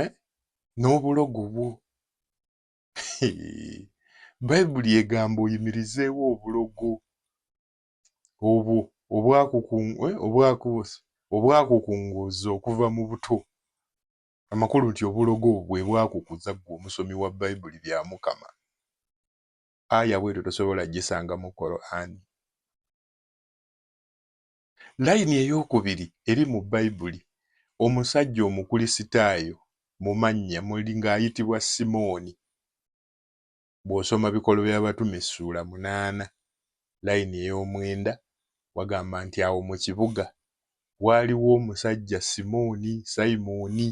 eh? n'obulogo bwo bayibuli egamba oyimirizeewo obulogo obwo eh, obwakukunguuza okuva mu buto amakulu nti obulogo bwe bwakukuza ggwe omusomi wa bayibuli bya mukama aya bwetyo tosobola gisanga mu korani Layini ey'okubiri eri mu Bayibuli, omusajja Omukulisitaayo mu mannya muli ng'ayitibwa Simooni. Bw'osoma Bikolwa by'Abatume essuula munaana, layini ey'omwenda, wagamba nti, Awo mu kibuga waaliwo omusajja Simooni, Sayimooni.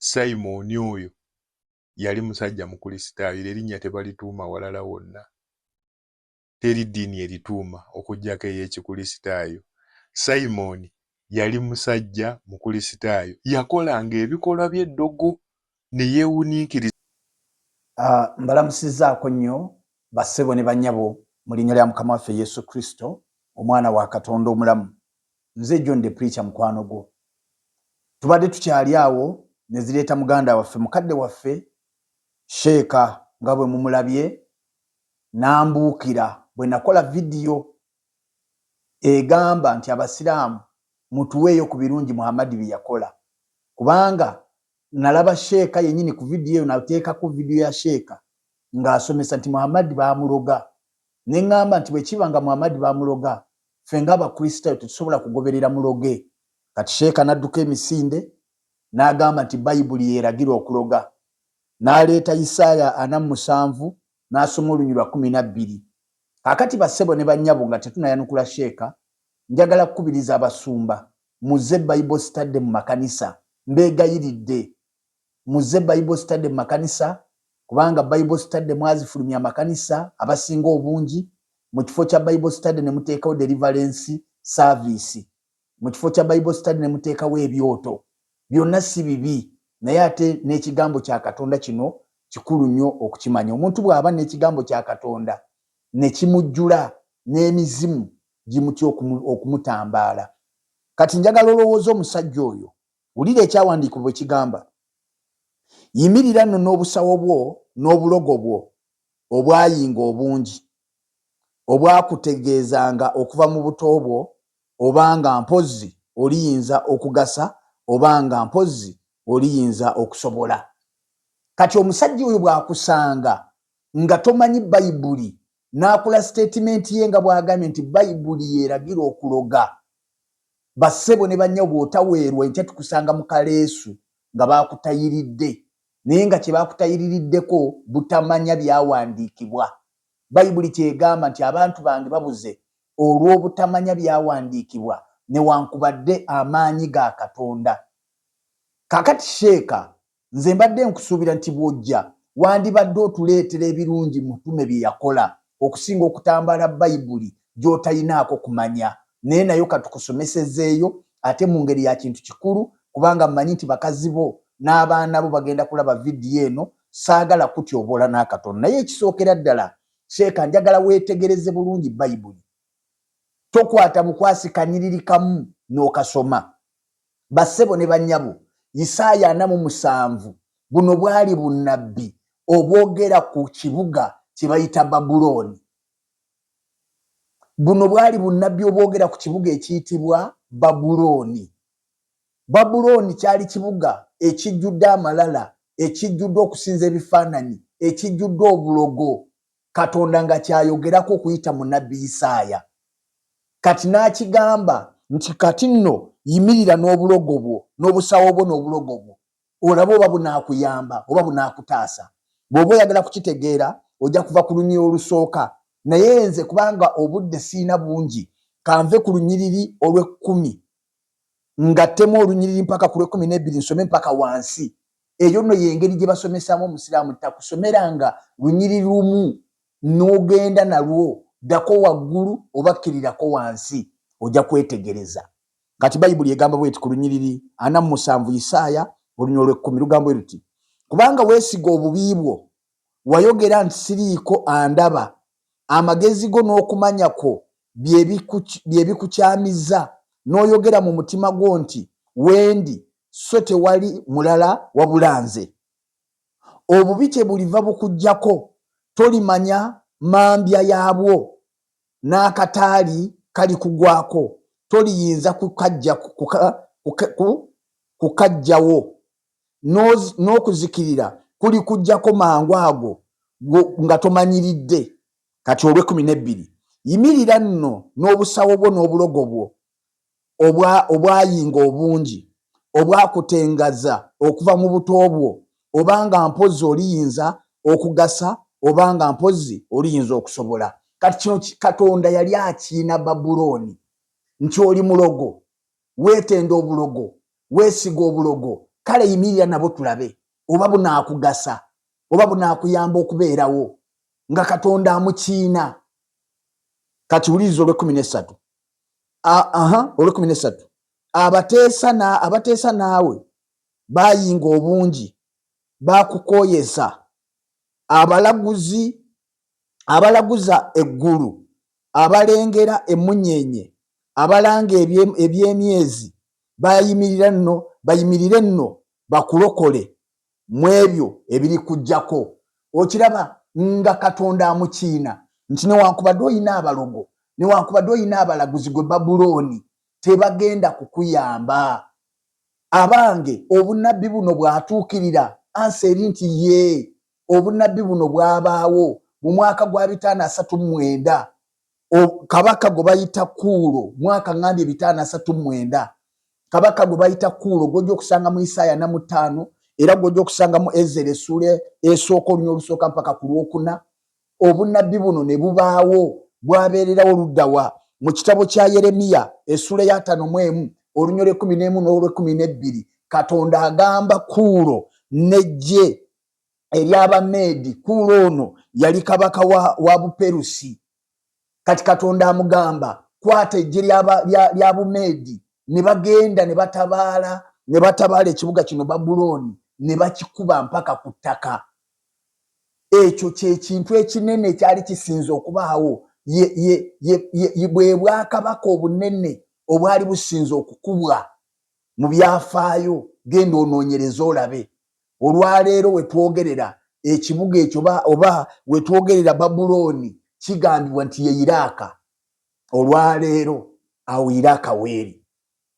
Sayimooni oyo yali musajja Mukulisitaayo, era erinnya tebalituuma walala wonna. teri ddiini erituuma okuggyako ey'Ekikulisitaayo. Simon yali musajja Mukulisitaayo. Yakolanga ebikolwa by'eddogo ne yeewuniikiriza. Mbalamusizzaako nnyo bassebo ne bannyabo mu Linnya lya Mukama waffe Yesu Kristo, Omwana wa Katonda omulamu. Nze John the Preacher mukwano gwo. Tubadde tukyali awo ne zireeta muganda waffe, mukadde waffe, Sheeka, nga bwe mumulabye, Nambuukira bwe nakola vidiyo egamba nti Abasiraamu mutuweeyo ku birungi Muhammad bye yakola kubanga nalaba Sheeka yennyini ku vidiyo eyo nateekako vidiyo ya Sheeka ng'asomesa nti Muhammad baamuloga ne ng'amba nti bwe kiba nga Muhammad baamuloga ffe ng'Abakristayo tetusobola kugoberera muloge kati Sheeka nadduka emisinde n'agamba nti Bayibuli y'eragira okuloga. N'aleeta Yisaaya ana mu musanvu n'asoma oluny. Lwa kkumi na bbiri. Kaakati bassebo ne bannyabo, nga tetunayanukula sheeka, njagala kukubiriza abasumba, muzze Bible Study mu makanisa. Mbeegayiridde, muzze Bible Study mu makanisa, kubanga Bible Study mwazifulumya amakanisa, abasinga obungi, mu kifo kya Bible Study ne muteekawo deliverance service. mu kifo kya bible study ne muteekawo ebyoto byonna si bibi naye ate n'ekigambo kya katonda kino kikulu nnyo okukimanya omuntu bw'aba n'ekigambo kya katonda ne kimujjula n'emizimu gimutya okumutambaala kati njagala olowooza omusajja oyo wulira ekyawandiikibwa bwe kigamba yimirira nno n'obusawo bwo n'obulogo bwo obwayinga obungi, obwakutegeezanga okuva mu buto bwo oba nga mpozzi oliyinza okugasa oba nga mpozzi oliyinza okusobola. Kati omusajja oyo bw'akusanga nga tomanyi Bayibuli n'akola sitetimenti ye nga bw'agambye nti Bayibuli y'eragira okuloga, bassebo ne bannyabo bw'otaweerwa enkya tukusanga mu kaleesu nga baakutayiridde naye nga kye baakutayiririddeko butamanya Byawandiikibwa. Bayibuli ky'egamba nti, Abantu bange babuze olw'obutamanya Byawandiikibwa newankubadde amaanyi ga Katonda. Kaakati, Sheeka, nze mbadde nkusuubira nti bw'ojja, wandibadde otuleetera ebirungi Mutume bye yakola okusinga okutambaala Bayibuli gy'otalinaako kumanya. Naye nayo katukusomesezeeyo ate mu ngeri ya kintu kikulu kubanga mmanyi nti bakazi bo n'abaana bo bagenda kulaba vidiyo eno. Ssaagala kukutyoboola n'akatono naye ekisookera ddala Sheikah njagala weetegereze bulungi Bayibuli. Tokwata bukwasi kanyiriri kamu n'okasoma. Bassebo ne bannyabo, Yisaaya ana mu musanvu buno bwali bunnabbi obwogera ku kibuga kye bayita Babulooni. Buno bwali bunnabbi obwogera ku kibuga ekiyitibwa Babulooni. Babulooni kyali kibuga ekijjudde amalala, ekijjudde okusinza ebifaananyi, ekijjudde obulogo. Katonda nga ky'ayogerako okuyita mu nnabbi Isaaya, kati n'akigamba nti, Kati nno yimirira n'obulogo bwo, n'obusawo bwo n'obulogo bwo, olabe oba bunaakuyamba, oba bunaakutaasa. Bw'oba oyagala kukitegeera, ojja kuva ku lunyiriri olusooka. Naye nze, kubanga obudde sirina bungi, ka nve ku lunyiriri olw'ekkumi. Ngattemu olunyiriri mpaka ku lw'ekkumi n'ebbiri nsome mpaka wansi. Eyo nno y'engeri gye basomesaamu Omusiraamu, takusomeranga lunyiriri lumu n'ogenda nalwo, ddako waggulu oba kkirirako wansi, ojja kwetegereza. Kati Bayibuli egamba bw'eti ku lunyiriri ana mu musanvu, Isaaya oluny. Olw'ekkumi, lugamba bwe luti, Kubanga weesiga obubi bwo, wayogera nti siriiko andaba, amagezi go n'okumanya kwo bye bikukyamizza n'oyogera mu mutima gwo nti, Wendi, sso tewali mulala wabula nze. Obubi kyebuliva bukujjako, tolimanya mambya yaabwo, n'akataali kalikugwako, toliyinza kukaggyawo, n'okuzikirira kulikujjako mangu ago nga tomanyiridde. Kati olw'ekkumi n'ebbiri, yimirira nno n'obusawo bwo n'obulogo bwo obwa, obwayinga obungi, obwakutengaza okuva mu buto bwo, oba nga mpozzi oliyinza okugasa, oba nga mpozzi oliyinza okusobola. Kati kino ki, Katonda yali akiina Babulooni, nti oli mulogo, weetenda obulogo, weesiga obulogo, kale yimirira nabwo tulabe oba bunaakugasa, oba bunaakuyamba okubeerawo. nga katonda amukiina kati wuliriza olwekumi nesatu aha olwekumi nesatu abateesa na abateesa naawe bayinga obungi bakukoyesa abalaguzi abalaguza eggulu abalengera emunyenye abalanga ebyemyezi bayimirira nno bayimirire nno bakulokole mu ebyo ebirikujjako. Okiraba, nga Katonda amukiina nti newankubadde olina abalogo, newankubadde olina abalaguzi, ggwe Babulooni, tebagenda kukuyamba. Abange, obunnabbi buno bwatuukirira? Ansa eri nti, Yee. Obunnabbi buno bwabaawo mu mwaka gwa bitaano asatu mu mwenda, kabaka gwe bayita kuulo mwaka ŋambye bitaano asatu mwenda kabaka gwe bayita kuulo gwojja okusanga mu isaaya na mutaano era gwojja okusanga mu ezera esuula esooka olunya olusooka mpaka ku lwokuna obunabbi buno ne bubaawo bwabeererawo luddawa mu kitabo kya yeremiya esuula eyataano mu emu olunya olwekumi n'emu n'olwekumi n'ebbiri katonda agamba kuulo nejje ery'Abameedi, Kuulo ono yali kabaka wa, wa Buperusi. Kati Katonda amugamba, kwata eggye lya, lya, lya Bumeedi. Ne bagenda ne batabaala ne batabaala ekibuga kino Babulooni, ne bakikuba mpaka ku ttaka. Ekyo kye kintu ekinene ekyali kisinze okubaawo, ye, ye, ye, ye, ye bwe bwakabaka obunene obwali businze okukubwa mu byafaayo. Genda onoonyereze olabe. Olwaleero we twogerera, ekibuga ekyo oba, oba we twogerera Babulooni, kigambibwa nti ye Iraaka. Olwaleero, awo Iraaka w'eri.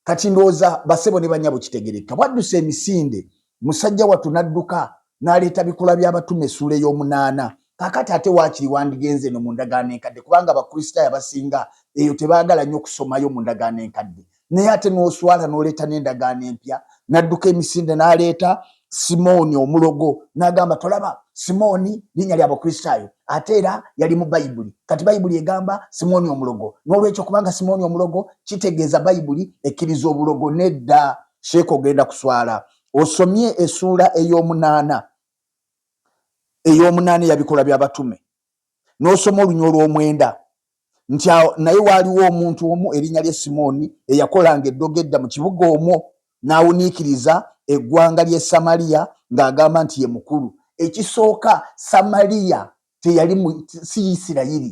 Kati ndowooza, bassebo ne bannyabo, kitegeerekeka, bwadduse emisinde, musajja wattu n'adduka n'aleeta Bikolwa by'Abatume, essuula ey'omunaana. Kaakati, ate waakiri wandigenze eno mu Ndagaano Enkadde, kubanga Abakristaayo abasinga eyo tebaagala nnyo kusomayo mu Ndagaano Enkadde. naye ate n'oswala n'oleeta n'endagaano empya n'adduka emisinde n'aleeta simooni omulogo n'agamba tolaba simooni linnya lya bukristaayo ate era yali mu bayibuli kati bayibuli egamba simooni omulogo n'olwekyo kubanga simooni omulogo kitegeeza bayibuli ekkiriza obulogo nedda sheeka ogenda kuswala osomye esuula ey'omunaana ey'omunaana eyabikola by'abatume n'osoma olunya olw'omwenda nti awo naye waaliwo omuntu omu erinnya lye Simooni eyakolanga eddogo edda mu kibuga omwo n'awuniikiriza eggwanga ly'e Samaliya ng'agamba nti ye mukulu. Ekisooka Samaliya teyali si Yisirayiri.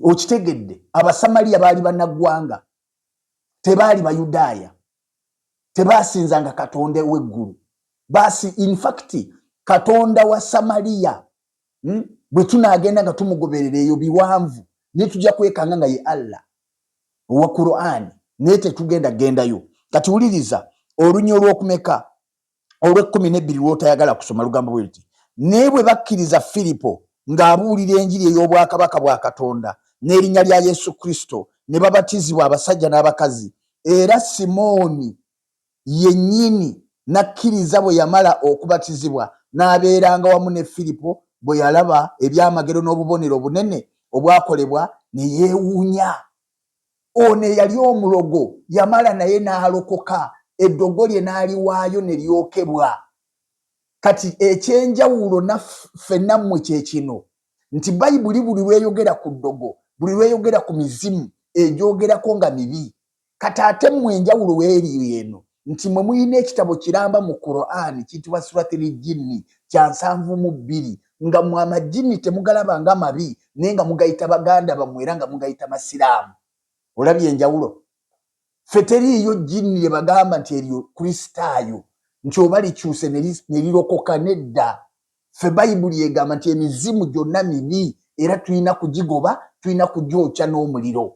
Okitegedde? Abasamaliya baali bannaggwanga, tebaali Bayudaaya. tebasinzanga katonda eweggulu basi infact katonda wa samaliya hmm? bwe tunagenda nga tumugoberera eyo biwanvu naye tujja kwekanga nga ye allah owa qurani naye tetugenda gendayo kati wuliriza olunya olwokumeka olw'ekkumi n'ebbiri lw'otayagala kusoma lugambo bwe luti naye bwe bakkiriza firipo ng'abuulira enjiri ey'obwakabaka bwa katonda n'erinnya lya yesu kristo ne babatizibwa abasajja n'abakazi era simooni yennyini n'akkiriza bwe yamala okubatizibwa n'abeeranga wamu ne firipo bwe yalaba ebyamagero n'obubonero obunene obwakolebwa ne yeewuunya ono eyali omulogo yamala naye n'alokoka eddogo lye n'aliwaayo ne lyokebwa kati ekyenjawulo naffe nammwe kye kino nti bayibuli buli lweyogera ku ddogo buli lweyogera ku mizimu egyogerako nga mibi kati ate mmwe enjawulo weeri eno nti mwe muyina ekitabo kiramba mu Quran kitibwa suratil jinni kya nsanvu mu bbiri nga mwe amajinni temugalaba nga mabi naye nga mugayita baganda bamwe era nga mugayita masiraamu olabye enjawulo fe teriiyo jinni lyebagamba nti eryo kristaayo nti oba likyuse nelirokoka nedda fe bayibuli egamba nti emizimu gyonna mibi era tulina kugigoba tulina kugyokya n'omuliro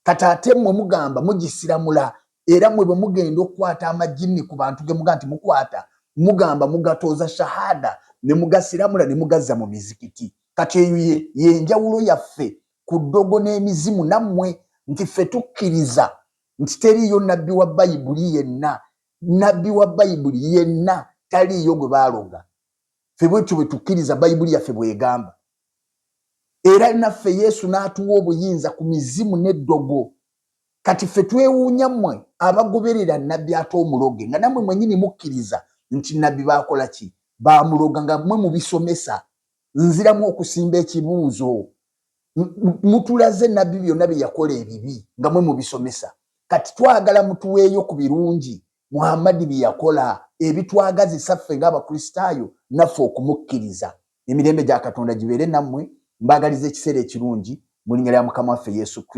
kati ate mwe mugamba mugisiramula era mwe bwe mugenda okukwata amajinni ku bantu ge muga nti mukwata mugamba mugatooza shahada ne mugasiramula ne mugazza mu mizikiti kati eyo yenjawulo yaffe ku ddogo n'emizimu nammwe nti ffe tukkiriza nti teriiyo nabbi wa bayibuli yenna nabbi wa bayibuli yenna taliiyo gwe baaloga ffe bwetyo bwe tukkiriza bayibuli yaffe bw'egamba era naffe yesu n'atuwa obuyinza ku mizimu n'eddogo kati ffe twewuunya mmwe abagoberera nabbi ate omuloge nga nammwe mwenyini mukkiriza nti nabbi baakola ki baamuloga nga mwe mubisomesa nziramu okusimba ekibuuzo mutulaze nabbi byonna bye yakola ebibi nga mwe mubisomesa kati twagala mutuweeyo ku birungi Muhammadi bye yakola ebitwagazisa ffe ng'Abakristaayo naffe okumukkiriza. Emirembe gya Katonda gibeere nammwe. Mbaagaliza ekiseera ekirungi mu linnya lya Mukama waffe Yesu Kristo.